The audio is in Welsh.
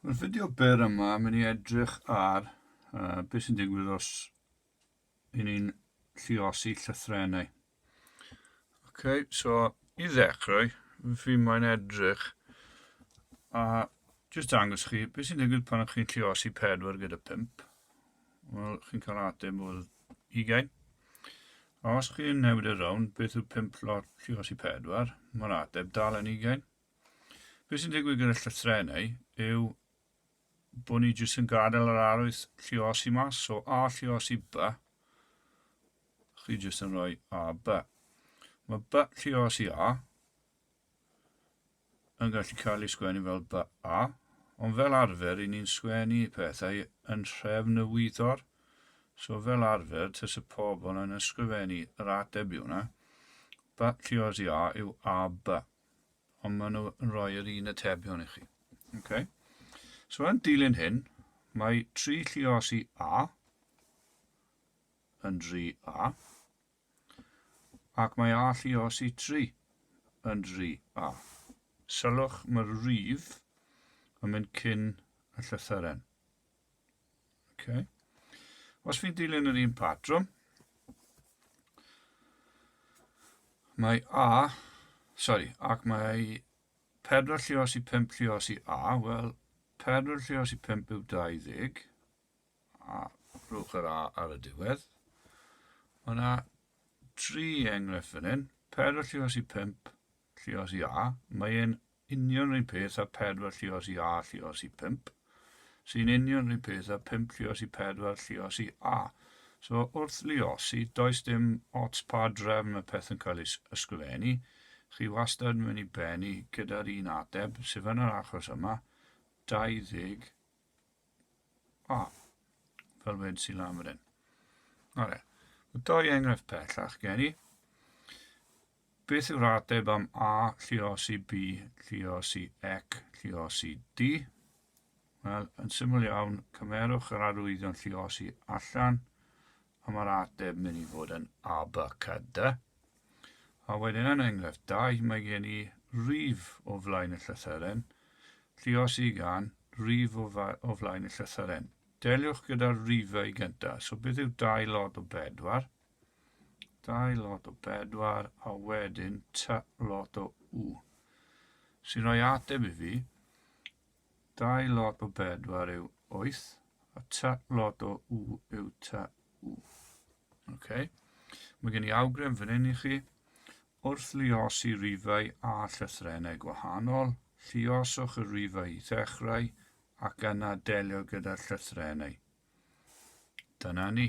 Yn y fideo byr yma, mynd i edrych ar uh, beth sy'n digwydd os i ni'n lliosi llythrenau. Ok, so i ddechrau, fi mae'n edrych a jyst dangos chi beth sy'n digwydd pan ych chi'n lliosi pedwar gyda pimp. Wel, chi'n cael ateb o'r ugain. Os chi'n newid y rown, beth yw 5 lot llios i 4? Mae'r ateb dal yn ugain. Beth sy'n digwydd gyda llythrenau yw bod ni jyst yn gadael yr arwydd llios i mas, so A llios i B, chi jyst yn rhoi A B. Mae B llios i A, yn gallu cael ei sgwennu fel ba, a, ond fel arfer ry'n ni'n sgwennu pethau yn nhrefn y wyddor, so fel arfer tase pobl yn ysgrifennu yr ateb i hwnna, but lle os i a yw a ba, ond maen nhw yn rhoi yr un atebion i chi. Okay. So yn dilyn hyn, mae tri lliosi a yn dri a, Ac mae alluos i tri yn dri, a. Sylwch, mae'r rif yn mynd cyn y llythyren. Okay. Os fi'n dilyn yr un patrwm, mae A, sorry, ac mae 4 llios i 5 llios i A, wel, 4 llios i 5 yw 20, a rhowch yr a ar y diwedd. Mae yna tri enghraifft fan hyn. Pedwar llios i pump llios i a. Mae e'n union rhywun peth a pedwar llios i a llios i pump. Sy'n union rhywun peth a pump llios i pedwar llios i a. So wrth liosi, does dim ots pa drefn y peth yn cael ei ysgrifennu. Chi wastad yn mynd i bennu gyda'r un ateb, sef yn yr achos yma, 20 O, fel wed sy'n lan fan hyn. Ore, mae doi enghraifft pellach gen i. Beth yw'r ateb am A, llios i B, llios i Ec, llios i D? Wel, yn syml iawn, cymerwch yr arwyddion llios i allan, a mae'r ateb mynd i fod yn A, B, C, D. A wedyn yn enghraifft 2, mae gen i rif o flaen y llythyren, lluos i gan rif o, o flaen y llythyren. Deliwch gyda'r rifau gyntaf. So beth yw 2 lot o 4? 2 lot o 4 a wedyn t lot o u. Sy'n rhoi ateb i fi Dau lot o bedwar yw wyth, a ta lot o w yw ta w. Ok. Mae gen i awgrym fan hyn i chi. Wrth luosi rifau a llythrennau gwahanol, lluoswch y rifau i ddechrau ac yna delio gyda'r llythrennau. Dyna ni.